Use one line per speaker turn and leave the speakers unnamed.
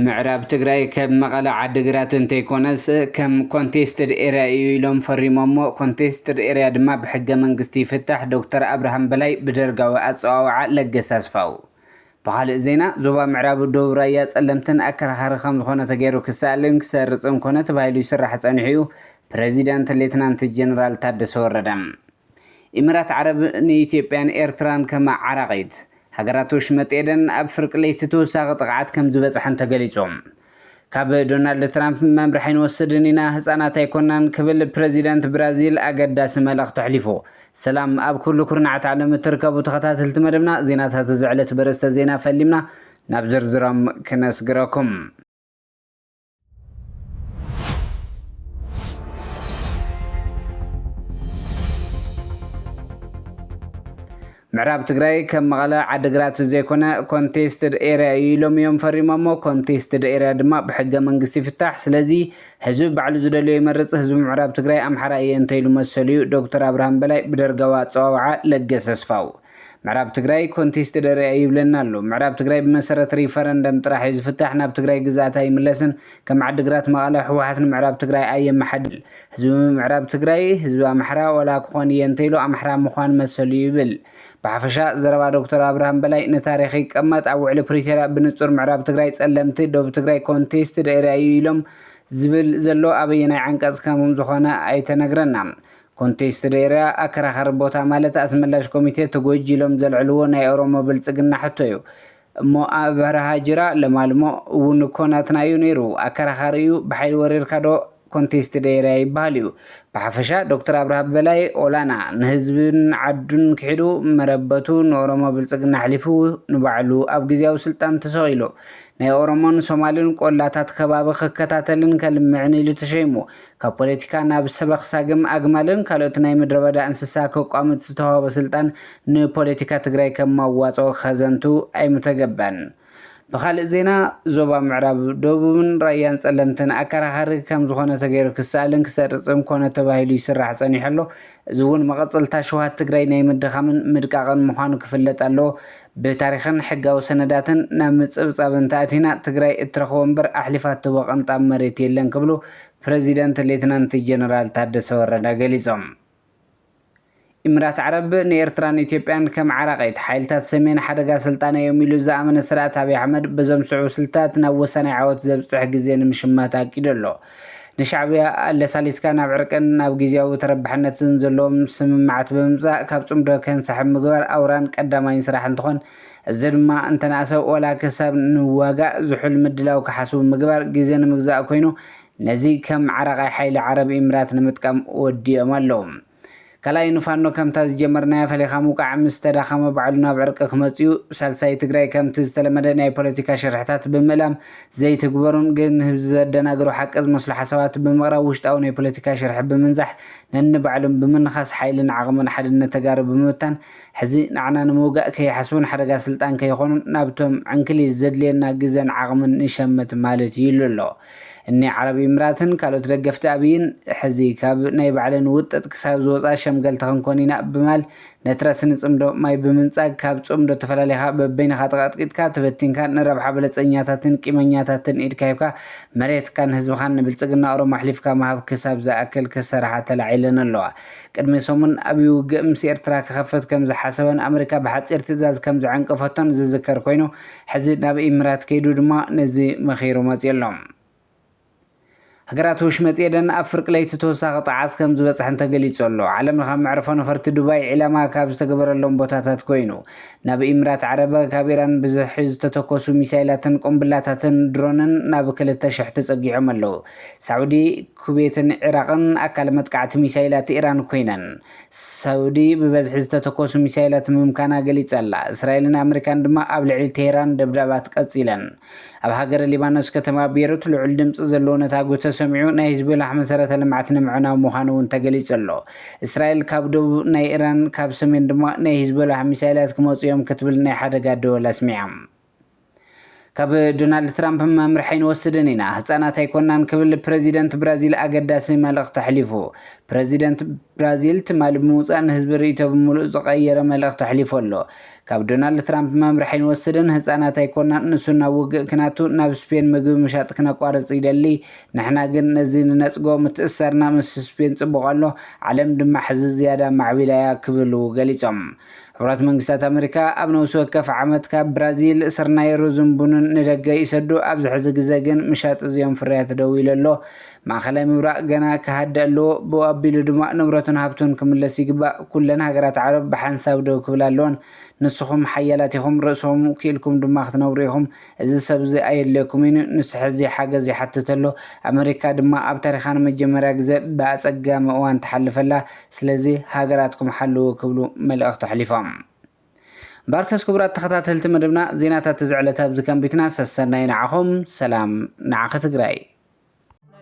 ምዕራብ ትግራይ ከብ መቐለ ዓዲግራት እንተይኮነስ ከም ኮንቴስትድ ኤርያ እዩ ኢሎም ፈሪሞሞ። ኮንቴስትድ ኤርያ ድማ ብሕገ መንግስቲ ይፍታሕ። ዶክተር ኣብርሃም በላይ ብደርጋዊ ኣፀዋውዓ ለገሰ ኣስፋው። ብኻልእ ዜና ዞባ ምዕራብ ዶብ ራያ ፀለምትን ኣከራኻሪ ከምዝኾነ ተገይሩ ክሰኣልን ክሰርፅን ኮነ ተባሂሉ ይስራሕ ፀኒሑ ዩ ፕረዚዳንት ሌትናንት ጀነራል ታደሰ ወረደ። ኢምራት ዓረብ ንኢትዮጵያን ኤርትራን ከመዓራቒት። ሃገራት ወሽመጥ ኤደን ኣብ ፍርቂ ለይቲ ተወሳኺ ጥቕዓት ከምዝበፅሐን ተገሊፁ። ካብ ዶናልድ ትራምፕ መምርሒ ኣይንወስድን ኢና፣ ህጻናት ኣይኮናን ክብል ፕረዚደንት ብራዚል ኣገዳሲ መልእኽቲ ኣሕሊፉ። ሰላም ኣብ ኩሉ ኩርናዓት ዓለም እትርከቡ ተኸታተልቲ መደብና ዜናታት እዚ ዕለት በርእስተ ዜና ፈሊምና ናብ ዝርዝሮም ክነስግረኩም። ምዕራብ ትግራይ ከም መቐለ፣ ዓዲግራት ዘይኮነ ኮንቴስትድ ኤርያ እዩ ኢሎም እዮም ፈሪሞሞ። ኮንቴስትድ ኤርያ ድማ ብሕገ መንግስቲ ይፍታሕ። ስለዚ ህዝቢ ባዕሉ ዝደልዮ ይመርፅ። ህዝቢ ምዕራብ ትግራይ ኣምሓራ እየ እንተይሉ መሰሉ እዩ። ዶክተር ኣብርሃም በላይ ብደርጋዊ ኣፀዋውዓ ለገሰ ኣስፋው ምዕራብ ትግራይ ኮንቴስትድ ኤርያ እዩ ይብለና ኣሎ። ምዕራብ ትግራይ ብመሰረት ሪፈረንደም ጥራሕ እዩ ዝፍታሕ። ናብ ትግራይ ግዝኣት ኣይምለስን። ከም ዓድግራት መቐለ ህወሓት ንምዕራብ ትግራይ ኣየመሓድርን ህዝቢ ምምዕራብ ትግራይ ህዝቢ ኣምሓራ ወላ ክኾን እየ እንተይሉ ኣምሓራ ምዃን መሰሉ እዩ ይብል። ብሓፈሻ ዘረባ ዶክተር ኣብርሃም በላይ ንታሪኽ ይቀመጥ ኣብ ውዕሊ ፕሪቶርያ ብንፁር ምዕራብ ትግራይ ፀለምቲ ዶብ ትግራይ ኮንቴስትድ ኤርያ እዩ ኢሎም ዝብል ዘሎ ኣበየናይ ዓንቀፅ ከምዝኾነ ኣይተነግረናን ኮንቴስትድ ኤርያ ኣከራኻሪ ቦታ ማለት ኣስመላሽ ኮሚቴ ተጎጅ ኢሎም ዘልዕልዎ ናይ ኦሮሞ ብልፅግና ሕቶ እዩ እሞ ኣብ በረሃ ጅራ ለማልሞ እውን እኮ ናትና እዩ ነይሩ ኣከራኻሪ እዩ ብሓይሊ ወሪርካ ዶ ኮንቴስትድ ኤርያ ይበሃል እዩ ብሓፈሻ ዶክተር ኣብርሃ በላይ ኦላና ንህዝብን ዓዱን ክሒዱ መረበቱ ንኦሮሞ ብልፅግና ኣሕሊፉ ንባዕሉ ኣብ ግዝያዊ ስልጣን ተሰቒሉ ናይ ኦሮሞን ሶማልን ቆላታት ከባቢ ክከታተልን ከልምዕን ኢሉ ተሸይሙ ካብ ፖለቲካ ናብ ሰበኽ ሳግም ኣግማልን ካልኦት ናይ ምድረበዳ እንስሳ ከቋምት ዝተዋህቦ ስልጣን ንፖለቲካ ትግራይ ከም መዋፅኦ ከዘንቱ ኣይምተገበን። ብኻልእ ዜና ዞባ ምዕራብ፣ ደቡብን ራያን ፀለምትን ኣከራኻሪ ከምዝኾነ ተገይሩ ክሰኣልን ክሰርፅን ኮነ ተባሂሉ ይስራሕ ፀኒሑ ኣሎ። እዚ እውን መቐፀልታ ሽውሃት ትግራይ ናይ ምድኻምን ምድቃቕን ምዃኑ ክፍለጥ ኣለዎ። ብታሪኽን ሕጋዊ ሰነዳትን ናብ ምፅብፃብ እንተኣቲና ትግራይ እትረኽቦ እምበር ኣሕሊፋ እትህቦ ቅንጣብ መሬት የለን ክብሉ ፕረዚደንት ሌተናንት ጀነራል ታደሰ ወረደ ገሊፆም። ኢምራት ዓረብ ንኤርትራን ኢትዮጵያን ከም ዓራቒት ሓይልታት ሰሜን ሓደጋ ስልጣነ እዮም ኢሉ ዝኣመነ ስርኣት ኣብይ ኣሕመድ በዞም ዝስዕቡ ስልትታት ናብ ወሳናይ ዓወት ዘብፅሕ ግዜ ንምሽማት ኣቂዱ ኣሎ። ንሻዕብያ ኣለሳሊስካ ናብ ዕርቅን ናብ ግዝያዊ ተረባሕነትን ዘለዎም ስምምዓት ብምምጻእ ካብ ጽምዶ ከንሳሕብ ምግባር ኣውራን ቀዳማይን ስራሕ እንትኾን እዚ ድማ እንተነኣሰ ዋላ ክሳብ ንዋጋእ ዝሑል ምድላው ክሓስቡ ምግባር ግዜ ንምግዛእ ኮይኑ ነዚ ከም ዓራቓይ ሓይሊ ዓረብ ኢምራት ንምጥቃም ወዲኦም ኣለዉ። ካልኣይ ንፋኖ ከምታ ዝጀመርናያ ፈሊኻ ምውቃዕ ምስ ተዳኸመ ባዕሉ ናብ ዕርቂ ክመጽእዩ ሳልሳይ ትግራይ ከምቲ ዝተለመደ ናይ ፖለቲካ ሽርሕታት ብምእላም ዘይትግበሩን ግን ህብዚ ዘደናግሩ ሓቂ ዝመስሉ ሓሳባት ብምቕራብ ውሽጣዊ ናይ ፖለቲካ ሽርሒ ብምንዛሕ ነንባዕሎም ብምንኻስ ሓይልን ዓቕምን ሓድነት ተጋሩ ብምብታን ሕዚ ንዓና ንምውጋእ ከይሓስቡን ሓደጋ ስልጣን ከይኾኑን ናብቶም ዕንክሊል ዘድልየና ግዘን ዓቕምን ንሸምት ማለት ይሉ ኣሎ። እኒ ዓረብ ኢምራትን ካልኦት ደገፍቲ ኣብይን ሕዚ ካብ ናይ ባዕለን ውጥጥ ክሳብ ዝወፃ ሸምገልቲ ክንኮን ኢና ብማል ነቲ ረስኒ ፅምዶ ማይ ብምንፃግ ካብ ፅምዶ ተፈላሊኻ በበይንኻ ተቐጥቂጥካ ተበቲንካን ንረብሓ በለፀኛታትን ቂመኛታትን ኢድካ ሂብካ መሬትካን ህዝብኻን ንብልፅግና ኦሮሞ ኣሕሊፍካ ምሃብ ክሳብ ዝኣክል ክሰራሓ ተላዒለን ኣለዋ። ቅድሚ ሰሙን ኣብይ ውግእ ምስ ኤርትራ ክኸፍት ከም ዝሓሰበን ኣመሪካ ብሓጺር ትእዛዝ ከም ዘዐንቀፈቶን ዝዝከር ኮይኑ፣ ሕዚ ናብ ኢምራት ከይዱ ድማ ነዚ መኺሩ መጺኡ ኣሎ። ሃገራት ወሽመጥ ኤደን ኣብ ፍርቂ ለይቲ ተወሳኺ ጥቕዓት ከም ዝበጽሐን ተገሊጹ ኣሎ። ዓለምለኻዊ መዕርፎ ነፈርቲ ዱባይ ዒላማ ካብ ዝተገበረሎም ቦታታት ኮይኑ፣ ናብ ኢምራት ዓረብ ካብ ኢራን ብዝሒ ዝተተኮሱ ሚሳይላትን ቁምብላታትን ድሮንን ናብ ክልተ ሽሕ ተጸጊዖም ኣለዉ። ሳዑዲ፣ ኩቤትን ዒራቕን ኣካል መጥቃዕቲ ሚሳይላት ኢራን ኮይነን፣ ሳዑዲ ብበዝሒ ዝተተኮሱ ሚሳይላት ምምካና ገሊጸ'ላ። እስራኤልን ኣመሪካን ድማ ኣብ ልዕሊ ቴህራን ደብዳባት ቀጺለን። ኣብ ሃገረ ሊባኖስ ከተማ ቤሩት ልዑል ድምጺ ዘለዎ ነታጒ ተሰሚዑ፣ ናይ ሂዝቦላሕ መሰረተ ልምዓት ንምዕናው ምዃኑ'ውን ተገሊጹ'ሎ። እስራኤል ካብ ደቡብ ናይ ኢራን ካብ ሰሜን ድማ ናይ ሂዝቦላሕ ሚሳይላት ክመጹ'ዮም ክትብል ናይ ሓደጋ ደወል ኣስሚዓ። ካብ ዶናልድ ትራምፕ መምርሒ ኣይንወስድን ኢና፣ ህጻናት ኣይኮናን ክብል ፕረዚደንት ብራዚል ኣገዳሲ መልእኽቲ ኣሕሊፉ። ፕረዚደንት ብራዚል ትማሊ ብምውጻእ ንህዝቢ ርእይቶ ብምሉኡ ዝቐየረ መልእኽቲ ኣሕሊፉ ኣሎ። ካብ ዶናልድ ትራምፕ መምርሒ ኣይንወስድን፣ ህጻናት ኣይኮናን፣ ንሱ ናብ ውግእ ክናቱ ናብ ስፔን ምግቢ ምሻጥ ክነቋርጽ ይደሊ፣ ንሕና ግን ነዚ ንነጽጎ፣ ምትእስሳርና ምስ ስፔን ጽቡቕ ኣሎ፣ ዓለም ድማ ሕዚ ዝያዳ ማዕቢላ'ያ ክብሉ ገሊጾም። ሕቡራት መንግስታት ኣመሪካ ኣብ ነብሲ ወከፍ ዓመት ካብ ብራዚል ስርናይ፣ ሩዝን ቡንን ንደገ ይሰዱ፣ ኣብዚ ሕዚ ግዘ ግን ምሻጥ እዚኦም ፍርያት ደው ኢሉ ኣሎ። ማእኸላይ ምብራቕ ገና ክሃድእ ኣለዎ፣ ብኡ ኣቢሉ ድማ ንብረቱን ሃብቱን ክምለስ ይግባእ። ኩለን ሃገራት ዓረብ ብሓንሳብ ደው ክብላ ኣለወን። ንስኹም ሓያላት ኢኹም፣ ርእስኹም ክኢልኩም ድማ ክትነብሩ ኢኹም። እዚ ሰብ'ዚ ኣየድልየኩምን'ዩ፣ ንሱ ሕዚ ሓገዝ ይሓትት ኣሎ። ኣመሪካ ድማ ኣብ ታሪኻ ንመጀመርያ ግዘ ብኣፀጋሚ እዋን ትሓልፍ ኣላ። ስለዚ ሃገራትኩም ሓልዉ ክብሉ መልእኽቲ ኣሕሊፎም። ባርከስ ክቡራት ተኸታተልቲ መደብና ዜናታት እዚ ዕለት ኣብዚ ከምቢትና ሰሰናዩ ንዓኹም ሰላም ንዓኺ ትግራይ።